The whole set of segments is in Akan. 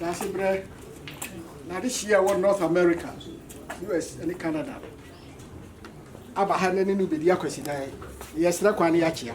Daasebrɛ na adehyeɛ a ɛwɔ North America, US ne Canada no aba ha na ne no bɛdi akwasidan. Yɛsrɛ kwan no yɛakyea.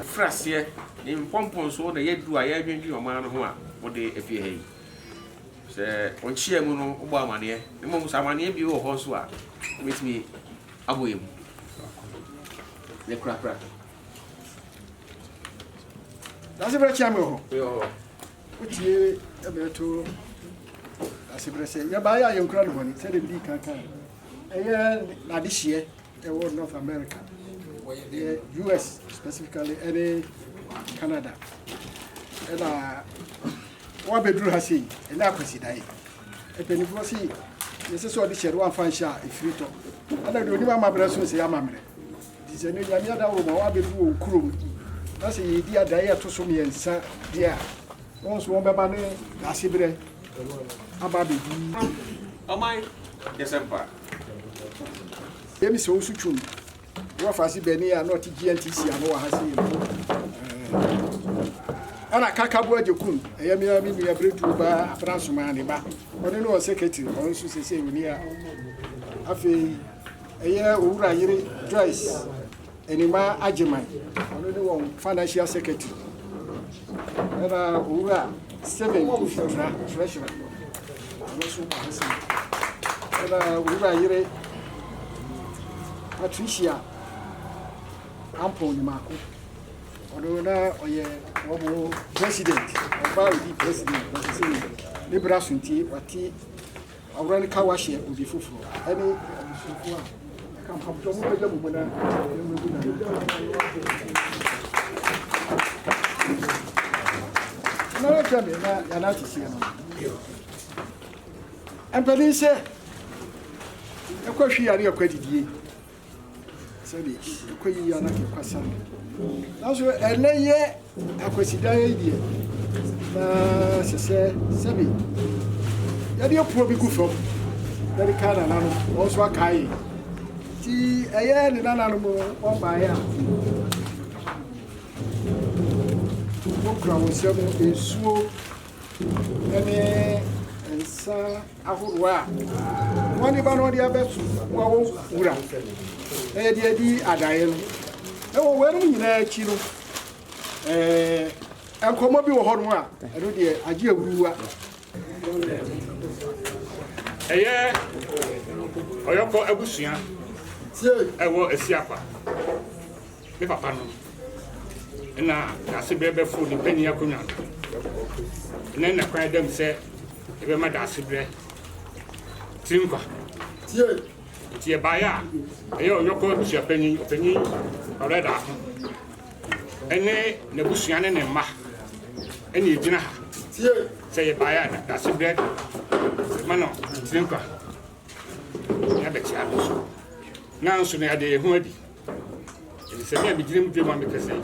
Mfiriaseɛ ne mpɔmpɔnsoɔ na yɛadu a yɛredwendwen ɔman no ho a mode afie ha yi. Sɛ ɔnkyea mu no wobɔ amaneɛ, na mmom sɛ amaneɛ bi wɔ hɔ nso a, wobɛtumi abɔ yɛn mu. Ne korakora. Dase bɛkyia me wɔ hɔ. Wotie ma ɛto asebrɛ sɛ yɛbaa yɛ a yɛnkura no bɔne sɛdeɛ medii kan kaa no. Ɛyɛ n'adehyeɛ ɛwɔ North America, ɛyɛ US specifically ɛne Canada. Ɛna wɔabɛduru ha sei, ɛnyɛ akwasidaeɛ. Mpanimfoɔ se yɛsɛ sɛ ɔde hyɛ no wamfa nhyɛ a ɛfiri tɔ. Ɛna deɛ onim amammerɛ so nsɛ yɛ amammerɛ. Enti sɛ nnɛ Nyame ada wo ma woabɛdu wɔn kurom, na sɛ yɛredi adaeɛ a ɛto so mmiɛnsa deɛ a, wɔn nso wɔbɛba ne Daasebrɛ aba abɛdi ɔman kɛsɛ mpa. Yɛmisa wo nso twum wɔ afaase bɛni a na ɔte GNTC ano wɔ ha sei no. Ɛna Kakabo Agyekum, ɛyɛ me ara me nua Beredu ba Abena Nsomaa ne ba. Ɔno ne wɔn secretary, ɔno nso sɛ sɛ ɔni a afei Ɛyɛ Owura Yere Joyce Animah Agyeman, ɔno ne wɔn Financial Secretary, ɛna Owura Stephen Kofi Tra, Treasurer, ɔno nso wɔ ha sei, ɛna Owura Yere Patricia Ampong Nimako, ɔno na ɔyɛ wɔn President, ɔbaa odi President, na ɔsɛ sɛ ne bra so nti wate Awɔrɔ ne kawa hyɛ obi foforɔ ɛne abusuafoɔ a ɛka mpaboa mu bɛda mu na ɛmu bi na na ɛtwa me na yɛn ateseɛ no mpanin sɛ ɛkɔ hwi yare ɛkɔ adidie sɛdeɛ ɛkɔ yie a na ka ɛkɔ saa nanso ɛnɛ yɛ akwasidan yi deɛ na sɛ sɛ sɛbi yɛde apuo bi gu fam yɛde kaa nananom wɔn nso akaa yɛ nti ɛyɛ ne nananom wɔn baeɛ a wɔkura wɔn nsam nsuo ɛne nsa ahoroɔ a wɔde ba no ɔde abɛto boa wɔn wura ɛɛ de adi adaeɛ no ɛwɔ wɔn mu nyinaa akyi no ɛɛ nkɔmɔ bi wɔ hɔ nom a ɛno deɛ agye awuruwa ɛyɛ ɔyɔkɔ abusua ɛwɔ asiakwa. me papa no na Daasebrɛ bɛforo ne panyin akonnwa no. Ɛnɛ na kwan dam sɛ yɛbɛma Daasebrɛ tiri nkwa. Nti yɛbaeɛ a ɛyɛ ɔyɔkɔ abusuapanyin ɔpanyin ɔrɛ daako ɛne n'abusua ne ne mma ɛne ɛgyina ha sɛ yɛbaeɛ a Daasebrɛ ma no tiri nkwa yɛabɛkyea no so nanso no yɛade yɛ ho adi Ɛfiri sɛ me a megyina mu dwe ma me kɛsɛ yi,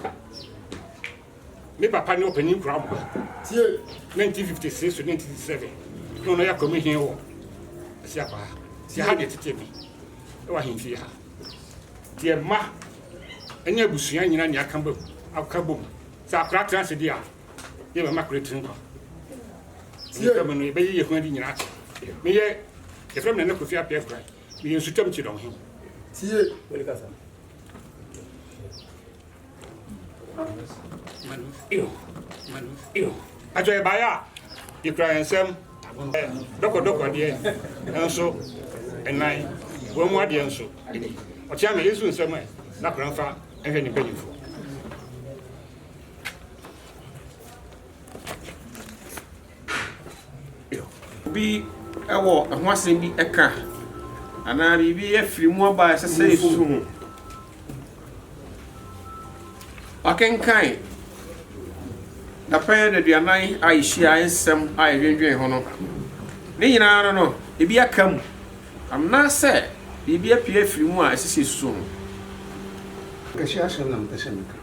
me papa ne ɔpanin kura mu. Tie 1956 to 1957 na ɔno yɛ akɔmi hin wɔ ɛsi akɔ ha. Tie ha deɛ tete mi ɛwɔ ahemfie ha. Tie mma ɛne abusua nyina nea aka bom aka bom sɛ akora tena ase di a yɛ bɛma akora tiri nkwa. Tie mu no yɛbɛyi yɛ ho adi nyina akyɛ. Meyɛ yɛfrɛ me nana kofi apɛ akura. Meyɛ nsutwam kyerɛ wo he. Tie. Wode kasa. Atwa ɛbaeɛ a yɛkura yɛn nsɛm dɔkɔdɔkɔ adeɛ nso ɛnan wɔn mu adeɛ nso ɔkyea na yɛsu nsɛm ɛ na kora mfa ɛhwɛ ne mpanyimfo Obi wɔ ɛho asɛm bi ka anaa biribi afiri mu aba a ɛsɛ sɛ yɛsusu ho. Wakenkan dapɛn aduanan a yɛhyia nsɛm a yɛdwendwen ho no. Ne nyinaa no no, ebi aka mu anaasɛ biribi apue afiri mu a ɛsɛ sɛ yɛsusu ho. Ankɛse asɛm na mepɛ sɛ meka,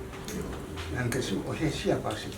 na ankɛse ɔhyɛ hyia kɔ ase.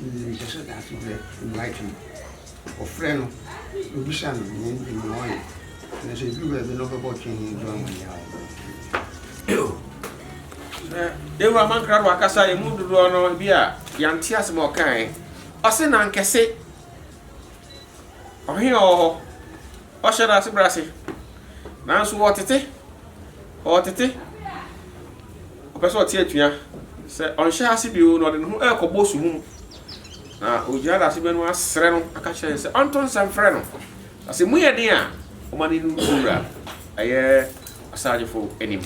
Nhwɛso da ase kyerɛ mmuae pii. Wɔfrɛɛ no na wobisaa no nea enti a nea ɔyɛ nanso eduu baabi no ɔbɛbɔ trenee nti wamma nea ɔyɛ. Na Dawur Amankrado wakasa yɛn mu dodoɔ no bi a yɛante asɛm a ɔkaeɛ. Ɔse nankɛse ɔhe ɔwɔ hɔ ɔhyɛ no ase brɛ ase. Nanso ɔretete, ɔretete, ɔpɛ sɛ ɔte atua. Sɛ ɔnhyɛ ase bio na ɔde ne ho rekɔbɔ su ho mu. Na ogyina dasebɛ no asrɛ no aka kyerɛ no sɛ ɔnto nsa mfrɛ no. Na sɛ mu yɛ den a, ɔma ne no tu wura ɛyɛ ɔsagyefo anim.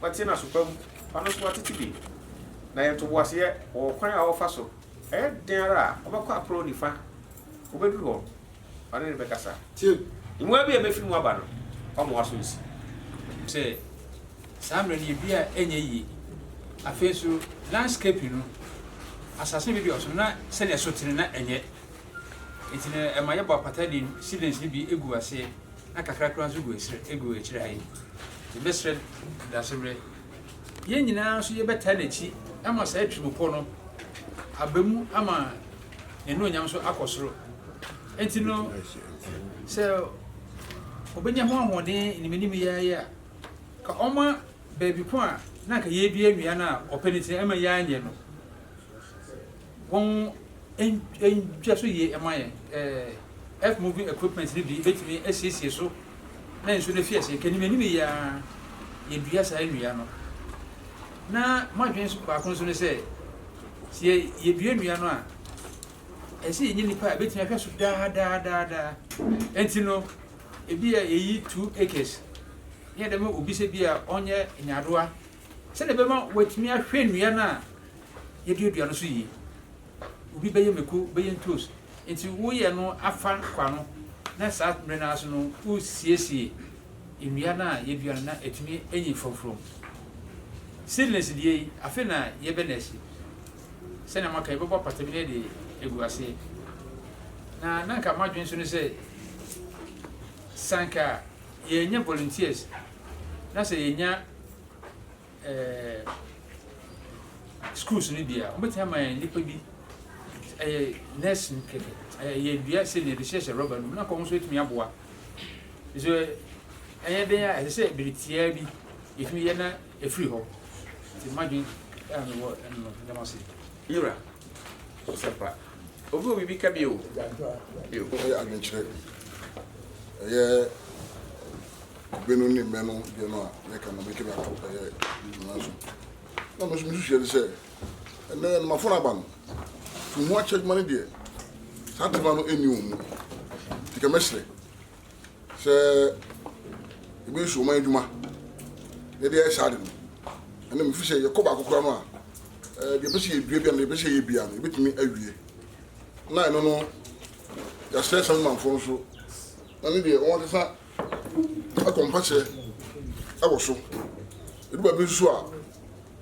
Ɔte n'asopa mu, ɔno nso watete bi. Na yɛ ntoboaseɛ wɔ ɔkwan a ɔrefa so. Ɛyɛ den ara a, ɔbɛkɔ aporɔw nifa, ɔbɛduru hɔ. Ɔne no bɛkasa. Tie! Mmoa bi a mɛfiri mu aba no, wɔn ho asɔ nsi. Sɛ saa mmerɛ no ebia ɛnyɛ yie. Afei nso landscaping no, asase no bi dɔɔso na sɛdeɛ ɛso tene na ɛnyɛ. Nti no ɛma yɛbɔ apata de seedlings no bi gu aseɛ na kakra koraa nso gu akyire ha yi. Yɛbɛsrɛ Daasebrɛ Yɛn nyinaa nso yɛbɛtaa n'akyi ama saa atirimpɔ no aba mu ama n'anuonyam nso akɔ soro. Enti no, sɛ obenya ho ahoɔden niminim yi ara yi a, ka ɔma baabi ko a na anka yɛredua nnua no a ɔpɛ no nti ɛmma yɛanyɛ no. Wɔn nhwɛso ye ma yɛn. Earth moving equipment no bi betumi asiesie so na nsu no afi ase. Nkanimanim yi ara yedua saa nnua no. Na m'adwene baako nso ne sɛ, sɛ yedua nnua no a, ɛsɛ sɛ yenya nnipa a ebetumi ahwɛ so daa daa daa daa. Enti no, ebi a eyi two acres, ne yɛde ma obi sɛ bi a ɔnyɛ nyaadoa Sɛnea ɛbɛma wɔatumi ahwɛ nnua no a yɛaduadua no so yiye. Obi bɛyɛ mako, bɛyɛ ntoosi. Enti woyɛ no afa kɔ ano, na saa bere no ara so no wosiesie nnua no a yɛadua no na atumi anyin frɔmfrɔm. Seedlings deɛ yi, afei na yɛbɛnɛɛse. Sɛnea maka, yɛbɛbɔ apata bi na yɛde agu aseɛ. Na na anka m'adwene so ne sɛ, sɛ anka Yɛnyɛ volunteers na sɛ yɛnya ɛɛ schools no bi a, wɔbɛtumi ama yɛn nnipa bi ɛyɛ nursing kɛkɛ ɛyɛ yɛ dua sɛ nea yɛde hyɛhyɛ rɔba no mu na kɔn nso atumi aboa nso ɛyɛ den a ɛsɛ sɛ bere tiaa bi yɛtumi yɛ na ɛfiri hɔ nti madwen a mewɔ ɛno no dɛm ase Me wura, ɔsɛmpa. Obi wɔ biribi ka bio? Bio. Ɛyɛ adwenkyerɛ. Ɛyɛ kube no ne mmɛ no deɛ no a mɛka no mɛtwam ato ɛyɛ nyina so. Na me nso me susuɛ ne sɛ ɛnɛ nomafo no aba no to mu akyɛ adwuma no deɛ saa tema no ɛnni wɔn mu. Nti ka mɛsrɛ sɛ ebi nso wɔn adwuma yɛde ɛhyɛ ade no ɛna mefi sɛ yɛkɔ baako kora no a ɛɛ deɛ pɛsɛ yɛdua bia no deɛ pɛsɛ yɛ bia no yɛbɛtumi awie na ɛno no yɛsrɛ sɛ manfoɔ nso na ne deɛ wɔn akasa akɔ mpakyɛ ɛwɔ so ɛdu baabi nso a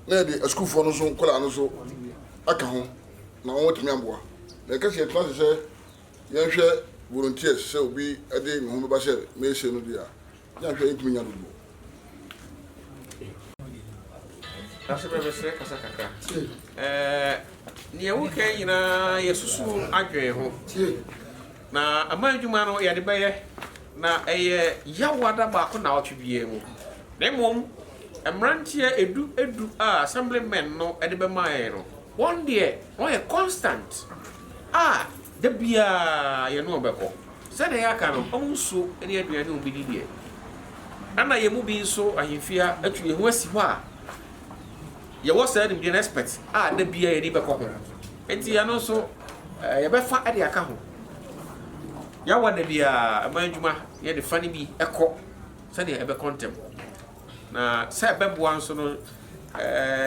na yɛde asukuufoɔ no nso nkɔlaa no nso aka ho na wɔn atumi aboa na ɛkɛsɛ yɛtena ase sɛ yɛnhwɛ volunteers sɛ obi de ne ho bɛba sɛ mɛɛsɛ no deɛ a, yɛn ahwɛ yɛntumi nya dodoɔ. Dase bɛ bɛsrɛ kasa kakra. Nea woka nyinaa yɛsusu adwene ho. Na ama adwuma no yɛde bɛyɛ na ɛyɛ yaw ada baako na ɔtwe biara mu. Na mmom mmeranteɛ edu edu a assemblymen no de bɛma yɛn no wɔn deɛ wɔyɛ constant. A da biara yɛne wɔn bɛkɔ. Sɛnea yɛaka no, wɔn nsuo ne aduane a wɔbɛdi deɛ, ɛna yɛn mu bi nso ahemfie ha atu yɛn ho asi hɔ a yɛwɔ saa nimdeɛ no expert a da biara yɛne bɛkɔ ho. Nti ɛno nso yɛbɛfa de aka ho. Yɛawa da biara, ɛma adwuma yɛde fa no bi kɔ sɛnea ɛbɛkɔ ntɛm. Na sɛ ɛbɛboa nso no,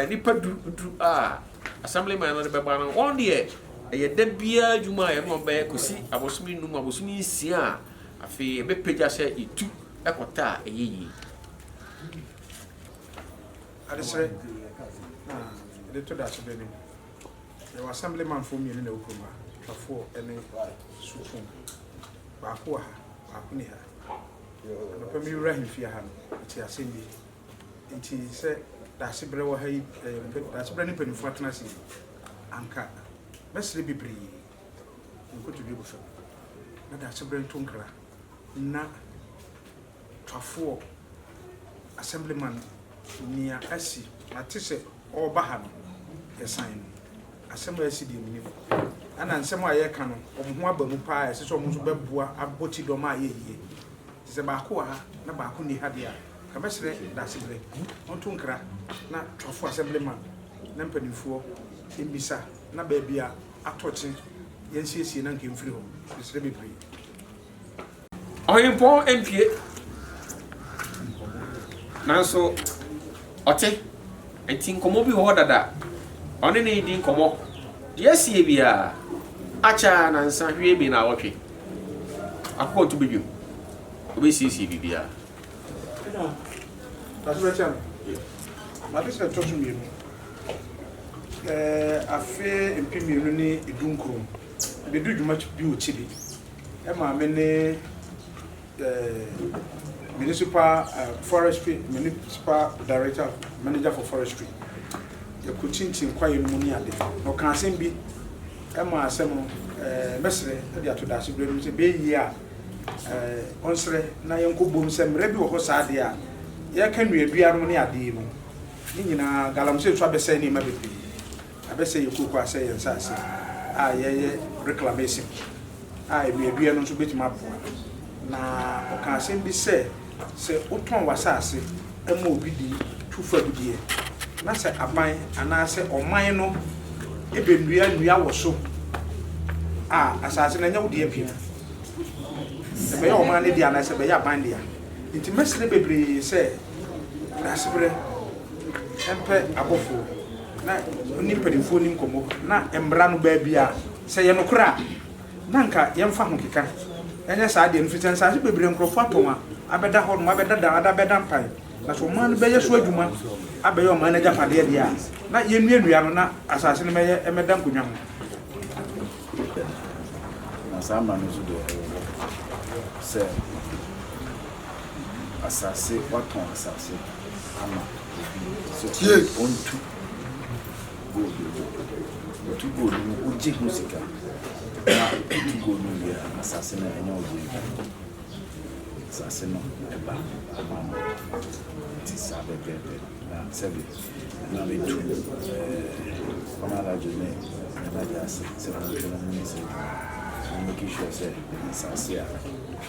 nnipa du du a Assemblyman no de bɛba no, wɔn deɛ ɛyɛ da biara adwuma a yɛne wɔn bɛyɛ kɔsi abosome num, abosome nsia a afei yɛbɛpagya sɛ yɛtu kɔtɛ a ɛyɛ yie. Adesrɛ na yɛde to daakye berɛ no mu. Yɛwɔ Assemblymanfoɔ mmienu na ɛwɔ kurom ha, Twafoɔ ne Supomu. Baako wɔ ha, baako nni ha. Anɔpa me wura ahemfie ha no, mete ase yie. Nti sɛ daasebrɛ wɔ ha yi, daasebrɛ ne mpanimfoɔ atena ase yi, anka mɛsrɛ bebree na nkotodwe gu fam. Na daasebrɛ nto nkra na twafoɔ assemblyman nea asi mate sɛ ɔreba ha no yɛsan no asɛm a asi deɛ menim ɛna nsɛm a yɛka no wɔn ho aba mu paa ɛsɛ sɛ wɔn nso bɛboa abɔ ti dɔm a yɛyie te sɛ baako wɔ ha na baako ni ha deɛ a kamɛsrɛ dasebrɛ ɔnto nkra na twafo assemblyman na mpanimfoɔ mbisa na baabi a atɔkye yɛnsiesie na nka mfiri hɔ mesrɛ bebree Ɔhempɔn mpue, nanso ɔte. Enti nkɔmmɔ bi wɔ hɔ dada. Ɔne no redi nkɔmmɔ. Deɛ asie biara, akyɛ a nansa hwie bɛn na awɔtwe. Akokɔ nto badwam. Ɔbɛsiesie biribiara. M'adesrɛ ɛtɔ so mmienu. Afe mpem mmienu ne du nkron, mebɛduu dwuma bi wɔ Chile. Ɛma me ne eh, Municipal eh, Forestry, Municipal Director, Manager for Forestry, yɛkɔtintim kwaeɛ no mu ne ade. Na ɔka asɛm bi ɛma asɛm no eh, mɛsrɛ de ato daase berɛ no mu sɛ bɛyɛ yie a eh, ɔnsrɛ na yɛnkɔ bom sɛ mmerɛ bi wɔ hɔ saa adeɛ a yɛka nnuadua no ne adeɛ no ne nyinaa galamsey nso abɛsɛe nneɛma bebree. Abɛsɛe yɛn nkurow kɔ asɛe yɛn nsase a yɛyɛ reclamation a nnuadua no nso betumi aboa. Na ɔkaa asɛm bi sɛ, Sɛ wotɔn w'asase ma obi de tu fam deɛ, na sɛ aban anaasɛ ɔman no bɛnnua nnua wɔ so a, asase no, ɛnyɛ wo dea bio. Ɛbɛyɛ ɔman no dea anaasɛ ɛbɛyɛ aban dea. Enti mɛsrɛ bebree sɛ, Daasebrɛ mpɛ abɔfoɔ. Na ɔne mpanimfoɔ nni nkɔmmɔ, na mmara no baa bi a, sɛ ɛyɛ nokorɛ a, na anka yɛmfa ho keka. Ɛnyɛ saa deɛ no, ɛfiri sɛ nsaase bebree a nkurɔfoɔ atɔn a, abɛda hɔnom, abɛda da, ada abɛda mpan, na sɛ ɔman no bɛyɛ so adwuma abɛyɛ ɔman no agyapadeɛ deɛ a, na yɛnnua nnua no na asaase no mmɛyɛ, mmɛda nkonnwa ho. Pɛ, na saa mmara no nso deɛ ɛwɔ hɔ sɛ. asase, watɔn asase ama obi sɛ ɔntu gold no. Ɔtu gold no, ogye ho sika, na ɔtu gold no wie a, asase no ɛnyɛ ɔde nka. Asase no ɛba ama no. Nti saa pɛpɛɛpɛ na sɛbi ɛna metu wɔn anadwo ne ɛna de ase sɛ wɔn hwɛ na wɔn nyɛ sɛ wɔn making sure sɛ asase a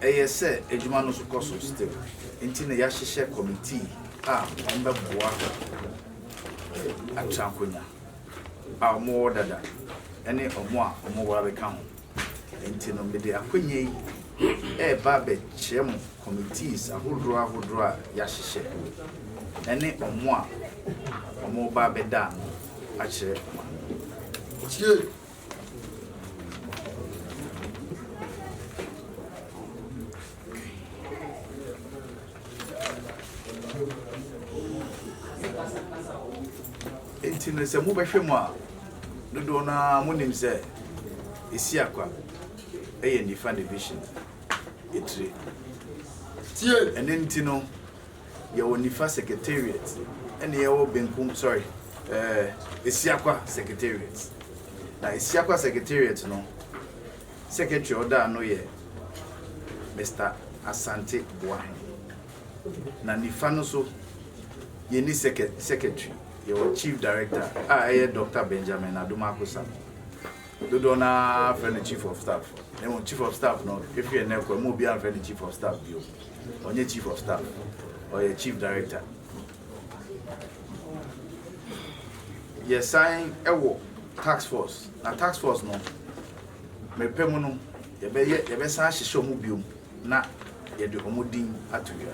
ɛyɛ sɛ adwuma no so kɔ so still nti na yɛahyehyɛ committee a wɔn bɛboa atrankonya a wɔn wɔ dada ɛne wɔn a wɔn wɔ abɛka ho nti no mede akonya yi ɛreba abɛkyerɛ mo committees ahodoɔ ahodoɔ a yɛahyehyɛ ɛne wɔn a wɔn ba abɛda ano akyerɛ wɔn ano. nti no sɛ mobɛhwɛ mu a dodoɔ no ara monim sɛ ɛsi akwa ɛyɛ nifa division ɛtire ɛno nti no yɛwɔ nifa secretariat ɛna yɛwɔ benkum sorry ɛɛ eh, esiakwa secretariat na esiakwa secretariat no secretary ɔda ano yɛ mr asante boahen na nifa no so yɛni secretary yɛwɔ chief director a ɛyɛ dr benjamin adomakosa dodoɔ no ara frɛ no chief of staff na mmom chief of staff no ɛfiri ɛnɛ kɔ mu obiara mfrɛ no chief of staff bio ɔnyɛ chief of staff ɔyɛ chief director yɛsan wɔ tax force na tax force no mepɛ mu no yɛbɛyɛ yɛbɛsan ahyehyɛ ɔmo biom na yɛde ɔmo din ato dwa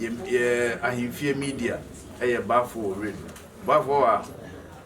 yɛ yɛ ahemfie media ɛyɛ bafo wɔ wura mu bafo a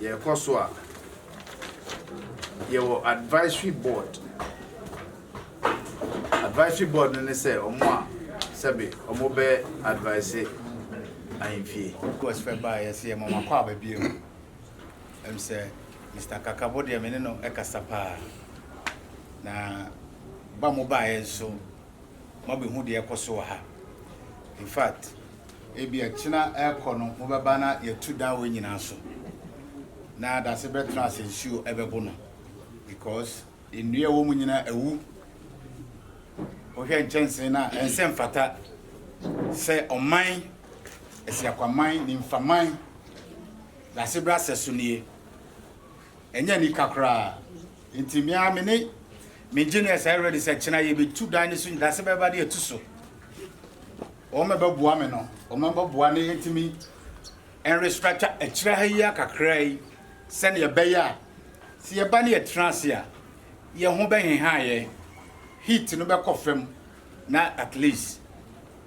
Yɛkɔ so a, yɛwɔ advisory board. Advisory board no ne sɛ wɔn a sɛbe wɔbɛ advise ahemfie. Request fɛ baa yɛse yɛma wɔn akɔ aba bio. Ɛm sɛ Mister Kakabo deɛ me ne no ɛkasa paa. Na ba mo baeɛ nso. moabɛhu deɛ ɛkɔ so wɔ ha. In fact, ebia kyena ɛrekɔ no mobɛba na yɛatu Danwei nyinaa so na dase bɛtena ase nsuo ɛbɛbo no because nnua ɛwɔ mu nyinaa awu. Wohwɛ nkyɛnsee no a ɛnsɛ mfata sɛ ɔman Asiakwaman Nimfaman dase berɛ asɛso nie. ɛnyɛ anika koraa nti me ara me ne me engineers ayɛ ready sɛ kyena yɛbɛtu dan no so nyinaa sɛ bɛba de atu so wɔn bɛboa me no wɔn bɛboa ne yɛntumi ɛnrestrata akyira ha yi akakra yi sɛdeɛ ɛbɛyɛ a sɛ yɛba ne yɛtena ase a yɛn ho bɛheha yɛ heat no bɛkɔ fam na at least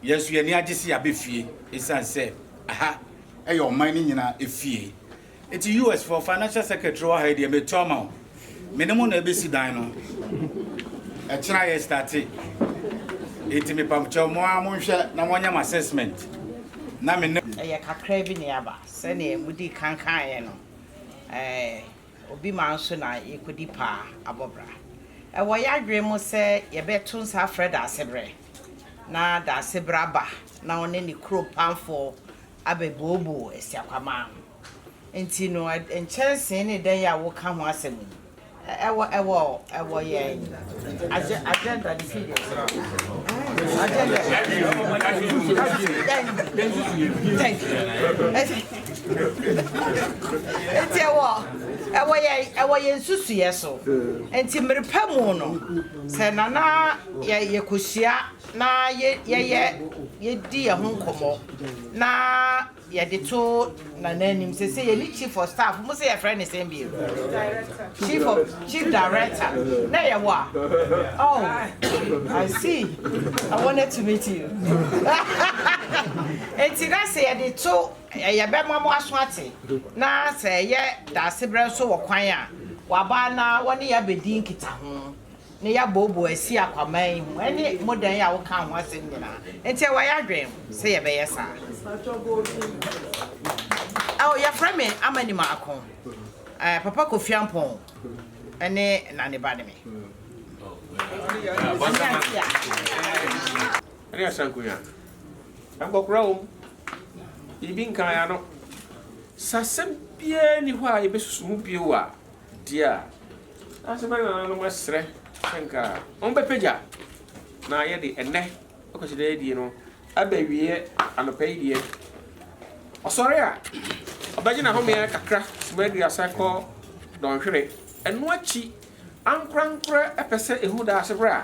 yɛn nso yɛn ani agye sɛ yɛabɛ fie ɛsiane sɛ aha ɛyɛ ɔman no nyinaa efie. Eti US foɔ financial secretary wɔ ha yi deɛ metu ama wo. Me ne mo na ɛbɛsi dan no. Ɛkyena yɛ starte. Eti mepamkyɛw mo ara monhwɛ na monyɛ mo assessment na me ne. Ɛyɛ kakra bi na yɛaba. Sɛdeɛ modii kan kaeɛ no, eh, obi man so na yɛkɔdi paa abɔbra. Ɛwɔ yɛn adwene mu sɛ yɛbɛto nsa afrɛ Daasebrɛ na Daasebrɛ aba na ɔne ne kurom pamfoɔ abɛbooboo asiakwammaa no. Nti no, nkyɛnsee ne dɛn yi a woka ho asɛm yi? Ɛwɔ, ɛwɔ, ɛwɔ yɛn agenda ne fi deɛ sɛ. Agenda. Thank you. Nti ɛwɔ, ɛwɔ yɛn, ɛwɔ yɛn susuyɛ so. Nti mmerepɛ mu no, sɛ nana yɛ yɛkosua na yɛyɛ yɛdi yɛn ho nkɔmmɔ na yɛde to nana anim sɛ sɛ yɛne chief of staff mu sɛ yɛfrɛ ne sɛn bio chief of chief director na yɛwɔ a oh i see i wanted to meet you enti na sɛ yɛde to eh, yɛbɛma mo aso ate na sɛ yɛ daasebrɛ nso wɔ kwan a waba na wɔne yɛabɛdi nkitaho ne yɛabooboo asi akwaman yi ho ne modan yi a wokaa ho asɛm nyinaa. Nti ɛwɔ yɛ adwen sɛ yɛbɛyɛ saa. Ɛwɔ yɛfrɛ me ama ni maako. Ɛɛ papa Kofi Ampon ɛne na ne ba ne me. Ɛne asankunya. Ɛnkɔkora wɔm. Biribi nkaa yɛ ano. Sɛ asɛm biara ni hɔ a yɛbɛsusu ho bio a. Di a, na sɛ bɛyɛ nananom srɛ sɛ nka wɔbɛpagya na ayɛ de ɛnɛ ɔkwasida adie no aba awieɛ anɔpa yi deɛ ɔsɔre a ɔbɛgye n'ahomeɛ kakra sima aduasa kɔ dɔnhwere ɛno akyi ankorankora ɛpɛ sɛ ɛhu da ase berɛ a